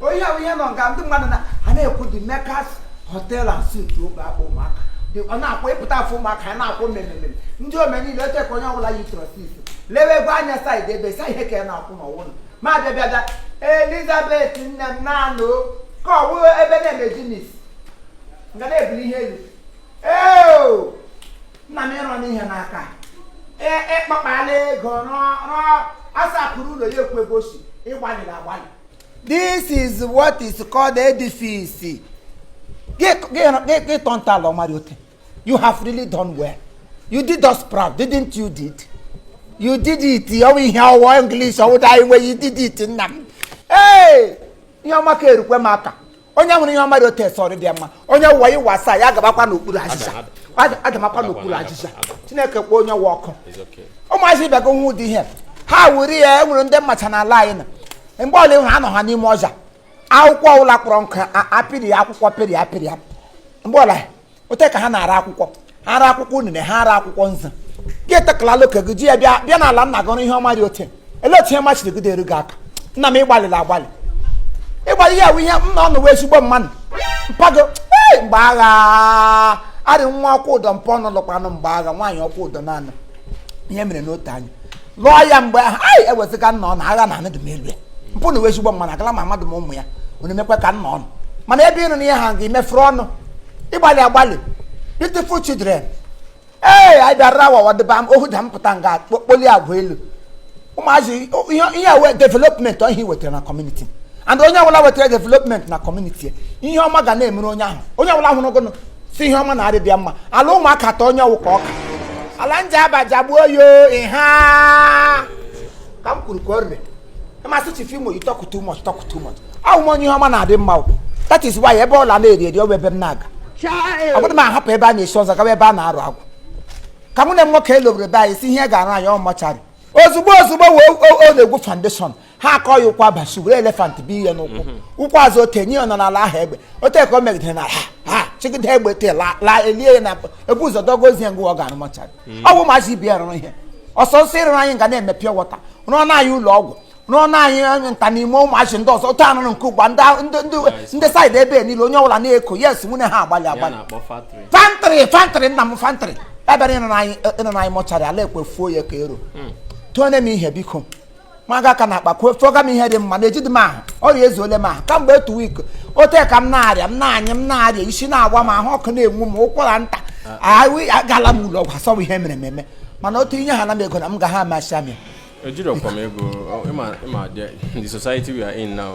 onye ahụ ihe nọ nga ndị mmadụ na a na-ekwu the Mecca's hotel and suit Obeakpu Ụmụaka Dị- ọ na-akwụ ị pụta Afọ Ụmụaka a na-akwụ mmemme ndị ome niile oche ka onye ọbụla yi trọsis lewe ego anya saịdị ebe sa ihe ka ya na-akwụ n'ọwụ nọ ma bịa bịa bịa elizabeth nne m na-anụ ka ọ wụrụ ebe na-eme jinis nga na-ebuli ihe elu eo nna m ịrọ n'ihe n'aka E- ịkpakpala ego rụọ rụọ asapụrụ ụlọ ya ekwu ego si ịgbalịrị agbalị this is what is called edifice gị tọ ntọala ọma rị ote you have really done well you did us proud didn't you did you did it ọwụ ihe ọwụwa english ọwụda iwe you did it nna m ee ihe ọma ka erukwe m aka onye hụrụ ihe ọma dị ote sị ọ dịdị mma onye wụwa iwe asaa ya agabakwa n'okpuru ajịja adamakwa n'okpuru ajịja chineke kpọọ onye ọ wụ ọkụ ụmụazị ịbịago nwa ụdị ihe ha wuri ya e nwere ndị m macha n'ala anyị na mgbe ọla ịhụrụ anọ ha n'ime ọja akwụkwọ ọbụla kpọrọ nkụ apịrị ya akwụkwọ pịrị ya pịrị ya mgbe ọla ote ka ha na-ara akwụkwọ ha ara akwụkwọ unene ha ara akwụkwọ nza gị etekala loke gị ji ya bịa bịa n'ala nna gị ihe ọma dị ote ele otu ihe ọma chiri gị deru gị aka nna m ịgbalịla agbalị ịgbalị ya bụ ihe nna ọnụ wụ ezigbo mmadụ mpa gị o ee mgbe agha arị nwa ọkwa ụdọ mpa ọnụ lụkwanụ mgbe agha nwaanyị ọkwa ụdọ naanị ihe mere n'otu anya lụọ ya mgbe ahụ anyị ewezuga nna ọnụ agha na anadị m elu ya mpa ọnụ wụ ezigbo mmanụ agala mma mmadụ m ụmụ ya unu emekwa ka nna ọnụ mana ebe ịnụ na ihe ha ga emefuru ọnụ ịgbalị agbalị beautiful children ee anyị bịara awawa dịba m ohu da m pụta nga kpoli agwa elu ụmụazị ihe a wụ development ihe wetara na community and onye ọbụla wetara development na community ihe ọma ga na-emere onye ahụ onye ọbụla hụrụ sị ihe ọma na adịdị ya mma ala Ụmụaka taa onye ọ wụ ka ọka ala Njaba jagbuo ya o ịha ka m kwuru ka o rere ị ma sị Chief Imo you talk too much talk too much a wụ m onye ihe ọma na-adị mma o that is why ebe ọla na-eri eri ọ bụ ebe m na-aga ọ bụdị m ahapụ ebe a na-esi ọzọ gawa ebe a na-arụ agwụ ka mụ na nwoke elobere be anyị sị ya ga-arụ anyị mortuary ozugbo ozugbo wee o- o- o na-egwu foundation ha akọ ya ụkwụ abasu were elephant bụ ihe n'ụkwụ mhm. ụkwụ azụ ote nye nọ n'ala ahụ egbe ote ka o megidere na ha ha chịgide egbe te la elie ya na ebu ụzọ dogo ozu ya nga ọ ga-arụ mortuary mhm. ọ bụ maazị ibi rụrụ ihe ọsọ nsọ ị rụrụ anyị nga a na-eme pure water rụọ na anyị ụlọ ọgwụ rụọ na anyị eh, nta n'ime ụmụazị ndị ọzọ otu anụrụ nke ugbu ndị saịdị ebe niile onye ọbụla na-eko yes nwunye ha agbalị agbalị fantrị fantrị nna m fantrị ebere ị rụrụ anyị eh, mortuary ala ekwefuo ya ka ero hmm. tụọ na m ihe biko maga aka n'akpa kwuo fọga m ihe dị mma na ejidị m ahụ ọrịa ezuole m ahụ kamgbe two weeks ote ka m na-arịa m na-anyị m na-arịa isi na-awa m ahụ ọkụ na-enwu m ụkwara nta agala m ụlọ ọgwụ a sị ọ bụ ihe e mere eme mana otu i nyeha na m ego na m ga ha amasị amị ejirọkwa m ego ị madị the society we are in now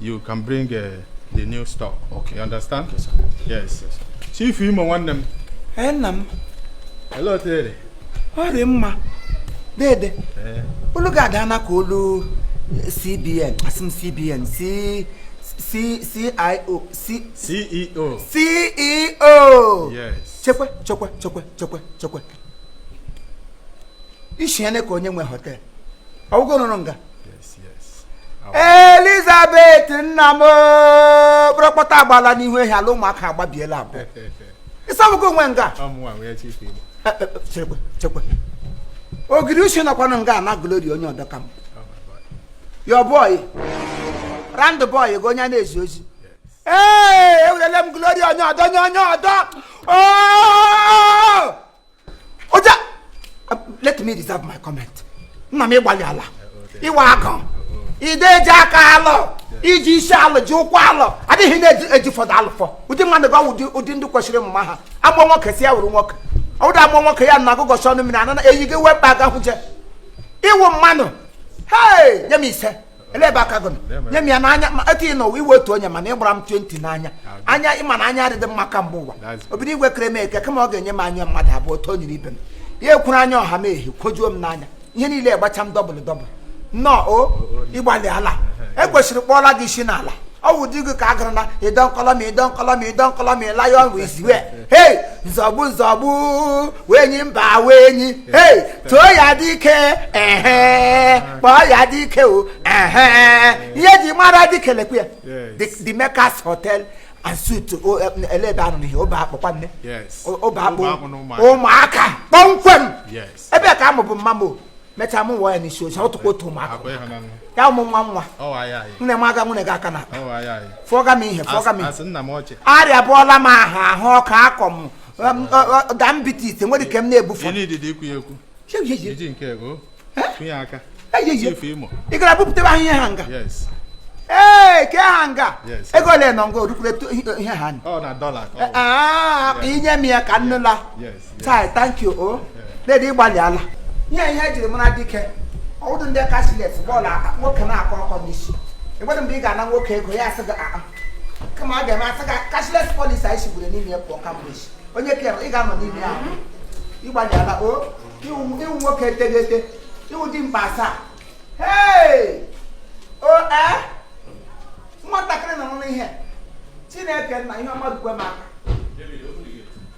you can bring uh, the new stock. Okay. You understand? Yes, sir. Yes. yes. Chief Imo nwanne m. Ee nna m. Ele otu ere? Ọ rị mma. Dede. Eh. Olu ga-ada na ka olu CBN, asị m CBN, si C C I O C C E O C E O. Yes. Chekwe chekwe chekwe chekwe chekwe. Ishi ya ne ka onye nwe hotel. Ọ wụ gị rụrụ nga. elizabeth nna m kpọrọkpọta agbala n'ihu ehi ala ụmụaka agbabiela abụọ ị sị ọ bụ gị nwe nga ogiri uche nọkwanụ nga na glori onye ọdọ ka m your boy errand boy gị onye na-ezi ozi ee ewerele m glori onye ọdọ onye onye ọdọ oga uh, let me reserve my comment nna m ị gbalịala ịwa akọ ide eji aka alụ iji isi alụ ji ụkwụ alụ adịghị na-eji fọdụ alụfọ ụdị mmadụ gị ọ wụ ụdị ndị kwesịrị mma ha agbọ nwoke sị ya wụrụ nwoke ọ wụ ụdị agbọ nwoke ya na agụgọchi ọnụ mmiri anana eyi gị wee mkpa aga hụje ị wụ mmanụ hei nye m ise ele ebe aka gị nọ nye m ya n'anya etu ị nọwa ị wụ otu onye mana ị gbara m 20 n'anya anya ị ma na anya adịghị m mma ka mgbe ụwa obido igwe kere m eke kama ọ ga-enye m anya mmadụ abụọ otu o nyere ibe m ya ekwuru anya ọha m ehi kwojuo m n'anya ihe niile gbacha m dọbụl dọbụl nnọọ o ị gbalịala e kwesịrị kpọọla gị isi n'ala ọ wụ ụdị gị ka a gara na ịdọ nkọlọ ma ịlayọ wee ziwe hei nzọgbu nzọgbu enyi mba enyi hei too ya dike ehe kpọọ ya dike o ehe ihe e ji mara dike lekwe ya Yes. The- the makers hotel and suites o, eh, ele ebe ọ nọ n'ihe Obeakpụ kwa nne Yes. O- Obeakpụ Obeakpụ na Ụmụaka. Ụmụaka kpọmkwem Yes. ebe ka a mụbu mama m o mechaa mụ wụọ ya n'Isiozi ọ wụkwa otu Ụmụaka Akwa ị wụ nwa nwa. ya ụmụ nwa nwa Ọ wa ya anyị. nne m aga nwunye gị aka na Ọ wa ya anyị. fụọga m ihe fụọga m Asị ihe asị nna m ọchị. arịabụọla m ahụ ahụ ọkọ akọ m diabetes nwere ike m na-ebufe ị gara bupụta ebe ahụ ihe ha nga ee ke ha nga ego ole nọ nga orukwure ihe ha i nye m ya ka nnụla tai thank you o dede ị gbalịala ihe ihe ejiri mara dike ọ wụ ụdị ndị cashless bọọlụ nwoke na-akọ ọkọ n'isi ịgbadụ mgbe ị ga-ana nwoke ego ya asị gị kama a ga-eme asa ka cashless policy anyị sigburu n'ime ya pụọ kamgbe echi onye kere ị ga-anọ n'ime ya ahụ ị gbalịala o ị wụ ị wụ nwoke teghete ị wụ dimkpa asaa hei o ee nwatakịrị nọ n'ihe chineke nna ihe mmadụ kwe m aka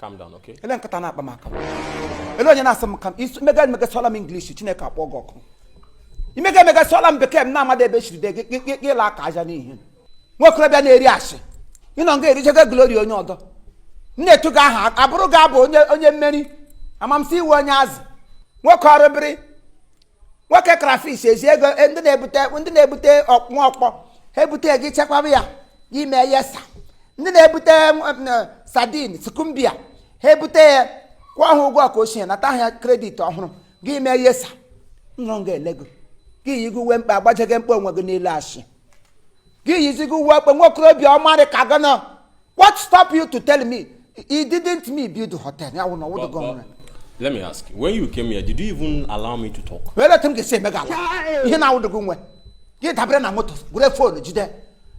calm down okay ele nkata na-akpa m aka ele onye na-asị m ka imega sụọla m English chineke akpọ gị ọkụ imega emega sụọla m bekee m na-amada ebe chiri de gị ịla aka aja n'ihe nwokorobịa na-eri ashị ị nọ nga erichego glory onye ọdọ na-etu gị aha abụrụ gị abụ onye mmeri amamsị ị wụ onye azụ nwoke ọrụ bịrị nwoke crayfish ezi ego e, ndị na-ebute nwa ọkpọ ha ebute gị chekwaba ya gị emee yes sir ndị na-ebute sardine skumbia ha ebutenye kwụọ ha ụgwọ nke ochie nata ha credit ọhụrụ gị emee yes sir nọ nga elego gị yigo uwe mkpe agbajeghị mkpe onwe gị niile achị gị yizigo uwe mkpe nwokorobịa ọmarị ka gị nọ What stop you to tell me he didn't me build the hotel? Ya wụ na ọ wụdụ gị nwe. Let me ask, when you came here, did you even allow me to talk? Olee otu m ga-esi emega. Ihe na-awụdụ gị nwe. Gị adabere na moto, wuru phone jide.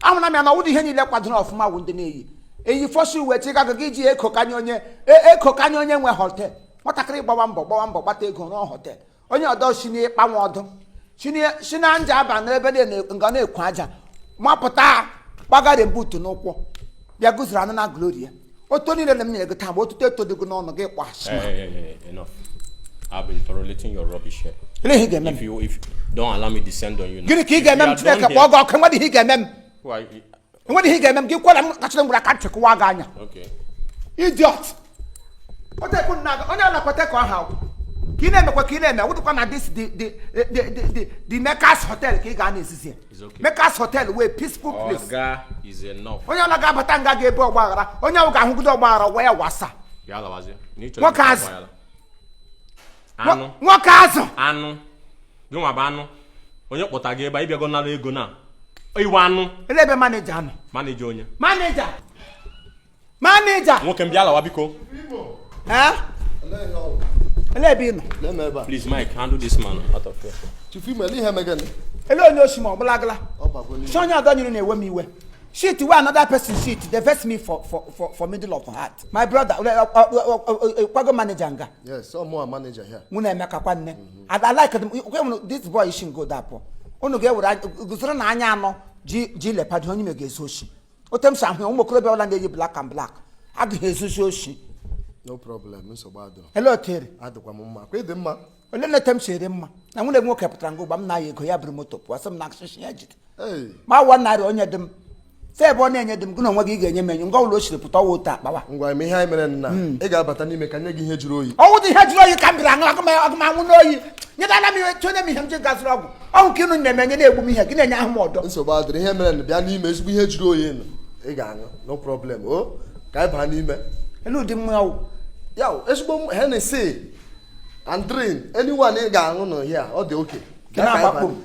Ahụna m na ọ wụdụ ihe niile kwadoro ọfụma wụ ndị na-eyi. Eyi fosi uwe chi gaga gị ji eko kanye onye, e, eko kanye onye nwe hotel. Nwatakịrị gbawa mbọ gbawa mbọ gbata ego rụọ hotel. onye ọdọ si n'ịkpanwe ọdụ si na Njaba n'ebe nga na-ekwu aja mapụta gbagara m boot n'ụkwụ bịa guzuru anụ na glory ya otu niile na m nyere gị taa otuto eto dịgo n'ọnụ gị kpọ asị I've been tolerating your rubbish here. Gịnị ka ị ga-eme m? If you if don't allow me descend on you now. Gịnị ka ị ga-eme m Chineke kpọọ gị ọkụ enwedị ihe ị ga-eme m? enwedị ihe ga-eme m gị kwere m kachara m were aka ntị kụwa gị anya idiot onye anakwata ka ọ ha ka ị na-emekwa ka ị na-eme wụdụkwa na this the Mekas hotel ka ị ga na-ezizi Mekas hotel wụ peaceful place onye ọla ga-abata nga ga ebe ọgba aghara onye ahụ ga-ahụgide ọgba aghara wee wasa nwoke azụ anụ nwoke azụ anụ gị nwa bụ anụ onye kpọta gị ebe a ị bịago nara ego na ị wụ anụ ele ebe manager nọ manager onye manager manager nwoke m bịa lawa biko ee ele ebe ị nọ please mike handle this man out of here chief m ele ihe megana ele onye osi ma ọ bụla gala shị onye ọdọ nyụrụ na-ewe m iwe shit wey another person shit dey vex me for for for for middle of heart my brother ọ kwa gị wụ manager nga Yes, ọ mụ wụ manager here. unu emeka kwa nne I like them kwe mụ this boy si ngo dapụ unu ga-ewere guzoro na anya anọ ji lepado onye mega ezu oshi otu m si ahụ ya ụmụ okorobịa ọla na-eyi black and black agaghị ezuzi oshi No problem, nsogbu adịrọ. ele otere Adịkwa m mma. Ọ kwa ị dị mma. olee otu m si arị mma na nwanne m nwoke pụtara ngo gba m na-aya ego ya buru moto pụọ sị m na akụsịsị ya jide ma wa narị onye dị m fe ebe ọ na-enye dị m gị na onwe gị ga-enye m enyo ngwa ụlọ o siri pụta ọwa otu akpawa ngwa eme ihe anyị mere nna hmm. ị ga-abata n'ime ka m nye gị ihe jụrụ oyi ọ wụdị ihe jụrụ oyi ka m bịara aṅụ aga m anwụ n'oyi nyedala m ihe chọnye m ihe m ji ga zụrụ ọgwụ ọgwụ ka unu na-emenye na-egbu m ihe gị na-enye ahụ m ọdọ nsogbu adịghị ihe mere na bịa n'ime ezigbo ihe jụrụ oyi nọ ị ga-aṅụ no problem o ka anyị baa n'ime elee ụdị mmanya wụ ya ezigbo Hennessy and drink anyone ị ga-aṅụ nọ here ọ dị okay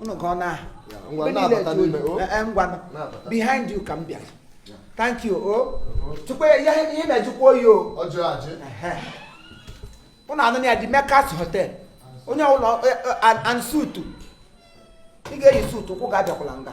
unu ka ọ na ngwa behind you ka m bịara thank you o oh. tupu ihe na-ejikwa oyi o oh. unu anọ na De Mekas hotel onye ụlọ eh, eh, and suit ị ga-eyi suit ụkwụ ga-abịakwala nga